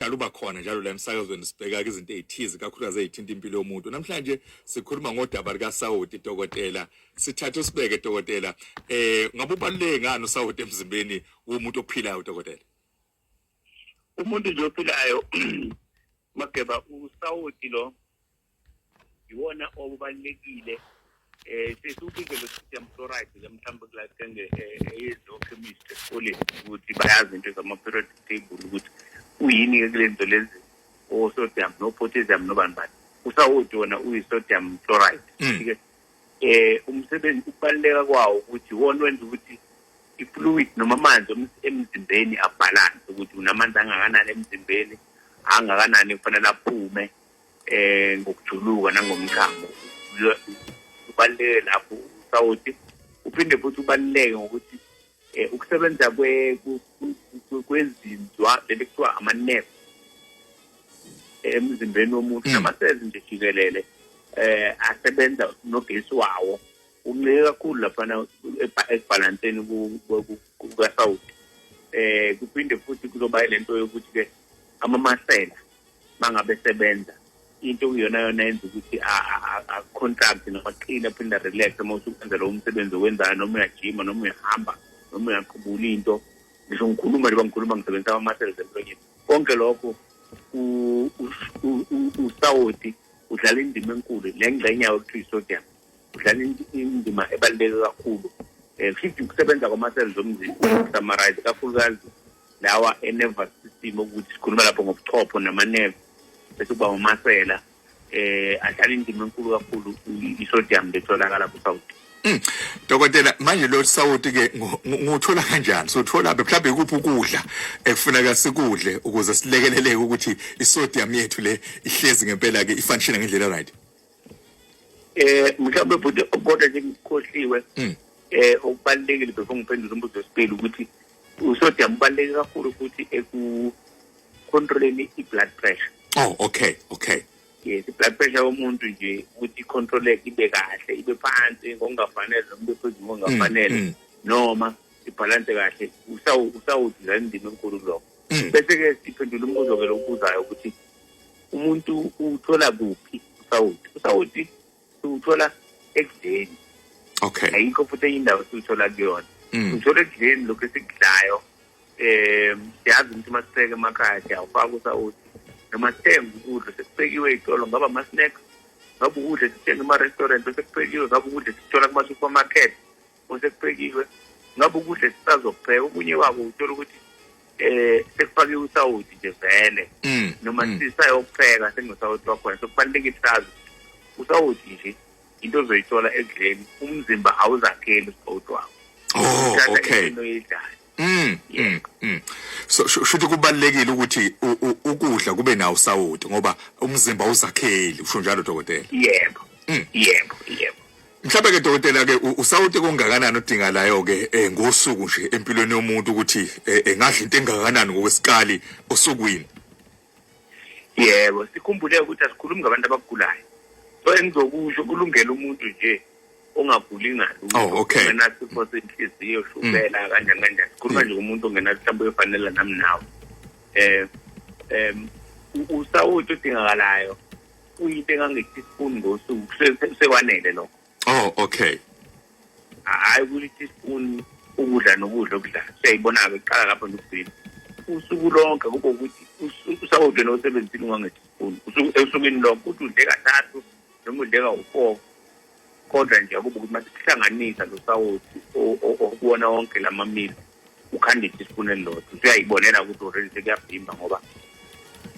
dala uba khona njalo la emsakazweni sibheka izinto ezithize kakhulukazi ezithinta impilo yomuntu namhlanje sikhuluma ngodaba lika Saudi dokotela sithathe sibeke dokotela eh ngabe ubaluleke ngani uSaudi emzimbeni womuntu ophilayo dokotela umuntu nje ophilayo mageba uSaudi lo yiwona okubalulekile eh sesiwubike lo system fluoride ke mhlawumbe kulasenge eyezochemist eh, esikoleni ukuthi bayazi into zama-period table ukuthi uyini-ke kule nto lezi osodium no-potassium nobani bani usawoti wona uyi-sodium fluoride hmm. ke eh umsebenzi ukubaluleka kwawo ukuthi wona wenza ukuthi i-fluid noma amanzi emzimbeni abhalanse ukuthi unamandla angakanani emzimbeni angakanani kufanele aphume eh ngokujuluka nangomchamo ubaluleke lapho usawoti uphinde futhi ubaluleke ngokuthi eh, ukusebenza kwezinzwa leli kuthiwa amanefu emzimbeni womuntu hmm. namasezi nje jikelele eh asebenza nogesi wawo uncike kakhulu laphana ekubhalanseni kukasawuti eh kuphinde futhi kuzoba lento yokuthi ke amamasela bangabe sebenza into okuyona yona yenza ukuthi a-contract noma qile aphinde relax uma usukwenzela umsebenzi owenzayo noma uyajima noma uyahamba noma uyaqubula into ngisho ngikhuluma njengoba ngikhuluma ngisebenzisa ama-muscles emlonyeni konke lokho usawoti udlala indima enkulu le ngxenye yawo kuthiwa isodium udlala indima ebaluleke kakhulu um eh, kushithi ukusebenza kwama-cells omzimba ukusamarize kakhulukazi lawa e-nervous system okuthi sikhuluma lapho ngobuchopho namanerve bese kuba umasela eh ahlala indima enkulu kakhulu i-sodium betholakala kusawuthi hmm. Dokotela manje lo sawuti ke nguthola kanjani sothola be mhlawumbe kuphi ukudla ekufuneka sikudle ukuze silekeleleke ukuthi isodium yethu le ihlezi ngempela ke ifunction ngendlela right eh mhlawumbe futhi kodwa nje ngikhohliwe hmm. eh okubalekile before ngiphendule umbuzo wesibili ukuthi usodium ubaleke kakhulu futhi eku controlling i-blood pressure oh okay okay yes i-blood pressure yomuntu nje ukuthi i-controleke ibe kahle ibe phansi ngokungafanele noma ibe phezulu ngokungafanele mm, mm. noma ibhalanse kahle usawudlala indima enkulu lokho mm. bese-ke siphendula umbuzo-ke lokubuzayo ukuthi umuntu uthola kuphi usawoti usawoti siwuthola ekudleni okay ayikho futhi enye indawo siwuthola kuyona mm. uthola ekudleni lokhu esikudlayo um siyazi ukuthi uma siseke emakhaya siyawufaka usawoti noma sithenge ukudla sekubekiwe iy'tolo ngaba ama-snacks ngaba ukudla sithenge ema-restaurant osekuphekiwe ngaba ukudla sikuthola kuma-supermarket kusekuphekiwe ngabe ukudla esisazokupheka okunye kwako uthola ukuthi eh sekufake usawoti nje vele mm, noma mm. sisayokupheka senginosawoti wakhona sokubalulekile sazi usawoti nje into ozoyithola ekudleni umzimba awuzakheli usawoti wakho oh okay Mm, mm, mm. So shuthi kubalekile ukuthi ukudla kube nawo sawoti ngoba umzimba uzakheli usho njalo dokotela. Yebo. Mm. Yebo, yebo. Mhlawumbe ke dokotela ke usawoti kongakanani odinga layo ke eh, ngosuku nje empilweni yomuntu ukuthi eh, engadla into engakanani ngokwesikali osukwini. yebo sikhumbule ukuthi asikhulumi ngabantu abagulayo so engizokusho kulungela umuntu nje ongaguli ngalungenasifo oh, senhliziyo shukela mm. kanjani kanjani sikhuluma nje umuntu ongenamhlawumbe uyofanela nami nawe um um usawoti odingakalayo uyinto engangethi sifuni ngosuku sekwanele lokho Oh okay. Hayi ukuthi spoon ukudla nokudla okudla. Siyayibona ke qala lapho nokugcina. Usuku lonke kube ukuthi usawudle nosebenzini wangethi spoon. Usuku esukwini lonke uthi udle kathathu noma udle kawu-4 kodwa nje akube ukuthi masikuhlanganisa lo sawoti okuwona wonke la mamilo ukhanda isipuni elilodwa usuyayibonela ukuthi already sekuyabhimba ngoba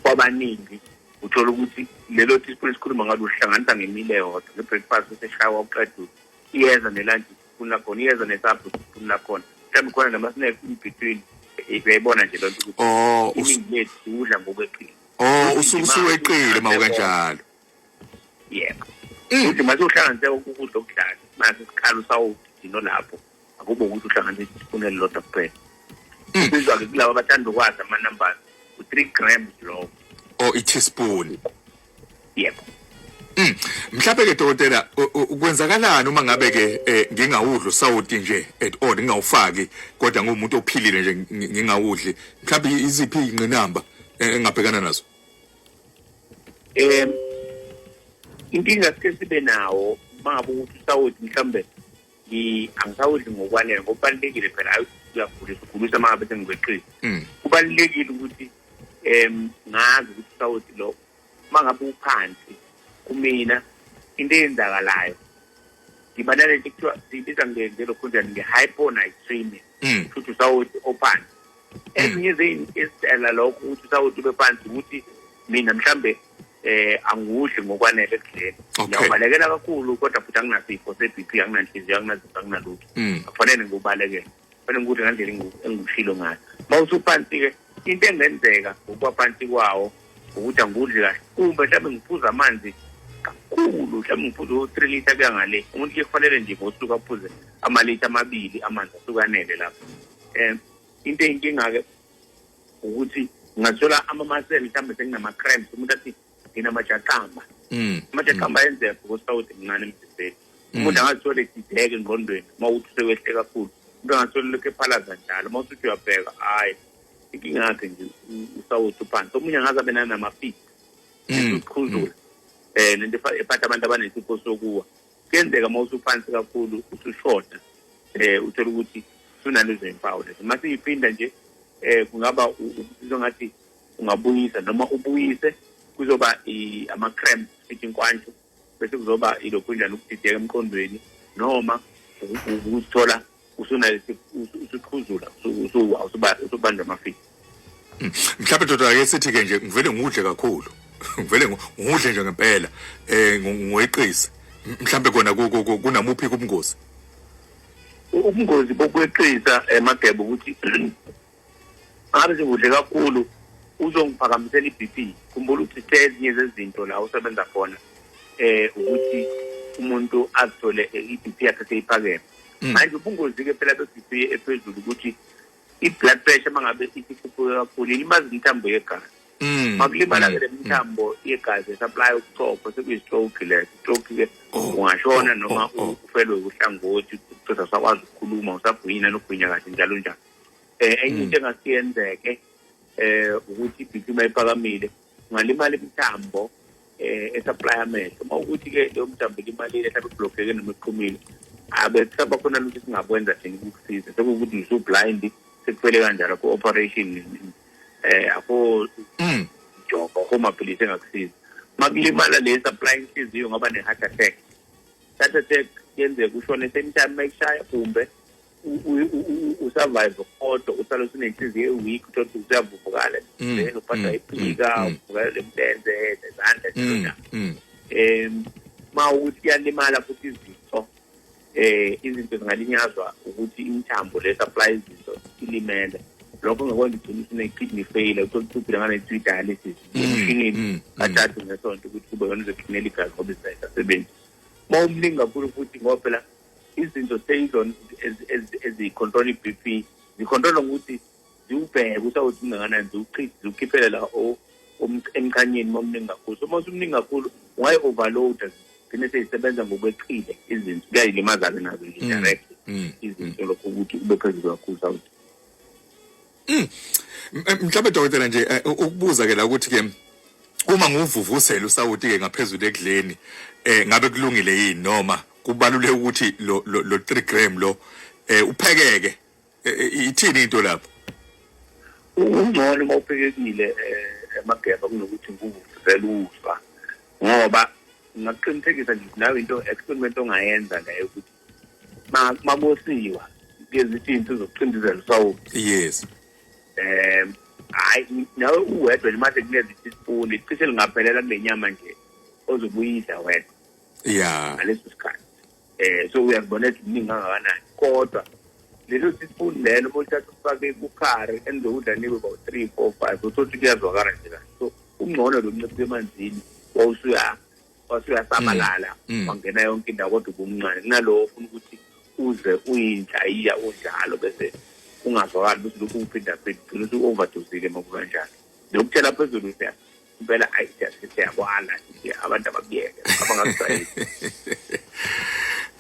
kwabaningi uthola ukuthi lelo teaspoon esikhuluma ngalo uhlanganisa ngemile yodwa nge-breakfast eseshawa uqeda iyeza ne-lunch teaspoon lakhona iyeza ne-supper teaspoon lakhona mhlawumbe khona nama-snack in between uyayibona nje loo nto ukuthi oh, iningi lethu udla ngokweqile o oh, usuke usuweqile ma ukanjalo yebo mm. futhi mase uhlanganise ukudla okudlala mase sikhala usawudino lapho akube ukuthi uhlanganisa isipuni elilodwa kuphela hmm. kubizwa-ke kulaba abathanda ukwazi ama-numbers u-three grams lowo o oh, i-teaspoon yebo Mm. Mhlawumbe ke dokotela kwenzakalani uma ngabe ke eh, ngingawudli usawoti nje at all ngingawufaki kodwa ngumuntu ophilile nje ngingawudli mhlawumbe iziphi ingqinamba eh, engabhekana nazo Eh inkinga sike sibe nawo mabu ukuthi usawoti mhlawumbe angisawudli ngokwanele ngoba kubalulekile phela ayi uyagulisa ugulisa uma ngabe sengikweqile hmm. kubalulekile ukuthi um ngazi ukuthi usawoti lo uma ngabe uphansi kumina into eyenzakalayo ngiba nalento kuthiwa siyibiza ngenze lokhu njani nge-hyponitrimia hmm. futhi usawoti ophansi ezinye zeyinistela lokho ukuthi usawuthi ube phansi ukuthi mina mhlambe eh angudli ngokwanele ekudleni ngiyabalekela kakhulu kodwa futhi anginasifo se-bp anginanhliziyo anginazifo anginalutho mm. akufanele ngiwubalekele kufanele ngikudle ngandlela engikushilo ngayo uma usuphansi-ke into engenzeka ngokuba phansi kwawo ukuthi angikudli kahle kumbe mhlawumbe ngiphuza amanzi kakhulu mhlawumbe ngiphuza u-three litre kuya ngale umuntu ke kufanele nje ngosuku aphuze amalitha amabili amanzi ahlukanele lapho um into eyinkinga-ke ukuthi ngathola amamasele mhlawumbe senginama-crams umuntu athi nginamajaqamba mm. amajaqamba mm. ayenzeka because sawuthi mncane emzimbeni mm. umuntu angazithole sideke engqondweni uma uthi usewehle kakhulu umuntu angathole lokhu ephalaza njalo uma usuthi uyabheka hhayi inkinga yakhe nje usawuthi uphansi omunye angaze abe nanamafisi uqhuzula um nento ephatha abantu abanesifo sokuwa kuyenzeka uma usuphansi kakhulu usushoda um eh, uthole ukuthi sunalezo impawu lezo uma siyiphinda nje um kungaba uzizwa ngathi ungabuyisa noma ubuyise kuzoba ama-cramp sithi inkwantsho bese kuzoba ilokhu njani ukudideka emqondweni noma ukuthola usunayo usuqhuzula usubanjwa amafika hmm. mhlawumbe doda ake sithi-ke nje ngivele ngudle kakhulu ngivele ngudle nje ngempela um ngiweqise mhlawumbe kona kunamuphi kubungozi ubungozi bokweqisa emagebe ukuthi ngabe sengudle kakhulu uzongiphakamisela i-bp khumbula ukuthi sithe ezinye zezinto la usebenza khona eh ukuthi umuntu azithole i-bp yakhe seyiphakeme mm. manje ubungozi-ke phela be-bp ephezulu ukuthi i-blood pressure uma ngabe isikhuphuke kakhulu ilimaza imithambo yegazi mm. makulimala-ke mm. le mithambo yegazi esaplaya ubuchopho sekuyi-stroke le stroke-ke oh. ungashona oh. noma oh. ufelwe uhlangothi ucisa usakwazi ukukhuluma usagwinyina nokugwinya kahle njalo njalo eh enye hmm. into engasiyenzeke eh ukuthi ibhithima iphakamile ungalimala imithambo eh esupply amehlo uma ukuthi ke leyo mthambo ilimalile mhlawumbe iblockeke noma iqhumile abe kusaba khona lutho singakwenza thina ukukusiza sekuwukuthi ngisu blind sekuphele kanjalo ku operation eh akho hmm. joko akho maphilisi engakusiza makulimala le supply inhliziyo ngoba ne heart attack heart attack yenzeka ushone same time mayishaya kumbe usurvive kodwa usale usunenhliziyo eweak uthole ukuthi usuyavuvukala mm, then uphatha mm, iphika mm, uvukala lemlenze nezandla njena um ma ukuthi kuyalimala futhi izinto eh izinto zingalinyazwa ukuthi imithambo le supply izinto ilimele lokho ngekwenza ugcina usune-kidney failure uthole ukuthi uphile ngane-three dialysis emshinini kathathu ngesonto ukuthi kube yona uzokhinela igazi ngoba izayisasebenzi uma umningi kakhulu futhi ngoba phela izinto seyizona eziyicontrol i-b p zicontrolwa ngokuthi ziwubheke ukuthi awuthi kungakanani ziwuchithe ziwukhiphele la emchanyeni uma umningi kakhulu so uma usumningi kakhulu ungayi-overloada gcine seyisebenza ngokweqile izinto kuyayilimaza-ke nazo nje mm, direct mm, izinto mm. lokho ukuthi ube phezulu kakhulu sawuthi Mm. Mhlawumbe dokotela nje eh, ukubuza ke la ukuthi ke uma nguvuvusela usawuti ke ngaphezulu ekudleni eh ngabe kulungile yini noma kubaluleke ukuthi lo lo 3 gram lo eh uphekeke eh, eh, ithini into lapho ungcono uma uphekekile eh, emageba kunokuthi nguvuvusela ufa ngoba ngaqinisekisa nje nawe into experiment ongayenza naye ukuthi makosiwa ngezithi into zokucindezela usawulo yes eh hayi nawe uwedwa manje kunezi isipuni cishe lingaphelela kule nyama nje ozobuyidla wedwa ya ngaleso sikhathi eh so uyazibona eziningi kangakanani kodwa lelo sisipuni lelo uma uthatha ufake kukhari enizokudla nibe about three four five uthotha kuyazwakala nje kahle so ungcono lo nciphe emanzini wawusuya wase uyasabalala mm, mm. wangena yonke indawo kodwa ubumncane kunalowo ufuna ukuthi uze uyinhlayiya unjalo bese ungazwakali ukuthi lokhu kuphinda phinda ugcina uthi u-overdosile uma kukanjalo nokutshela phezulu ukuthi impela ayisiyakwana abantu abakuyeke abangakujwayeli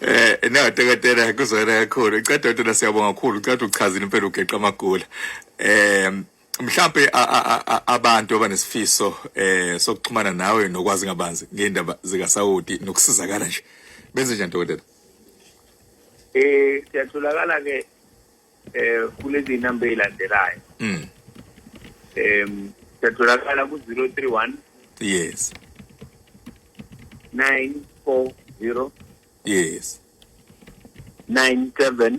Eh no dokotela kuzwela kakhulu. Cha dokotela siyabonga kakhulu. Cha uchaza impela ugeqa amagula. Eh mhlampe abantu abanesifiso eh sokuxhumana nawe nokwazi ngabanzi ngendaba zika Saudi nokusizakala nje benze njani dokotela eh siyatholakala ke eh kulezi number elandelayo mm em siyatholakala ku 031 yes 940 yes 97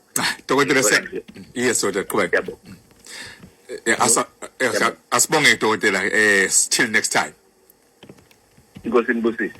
Ah, dokotela se yes dokotela qhubeka yabo eh, asa eh, asibonge dokotela eh till next time inkosi inibusise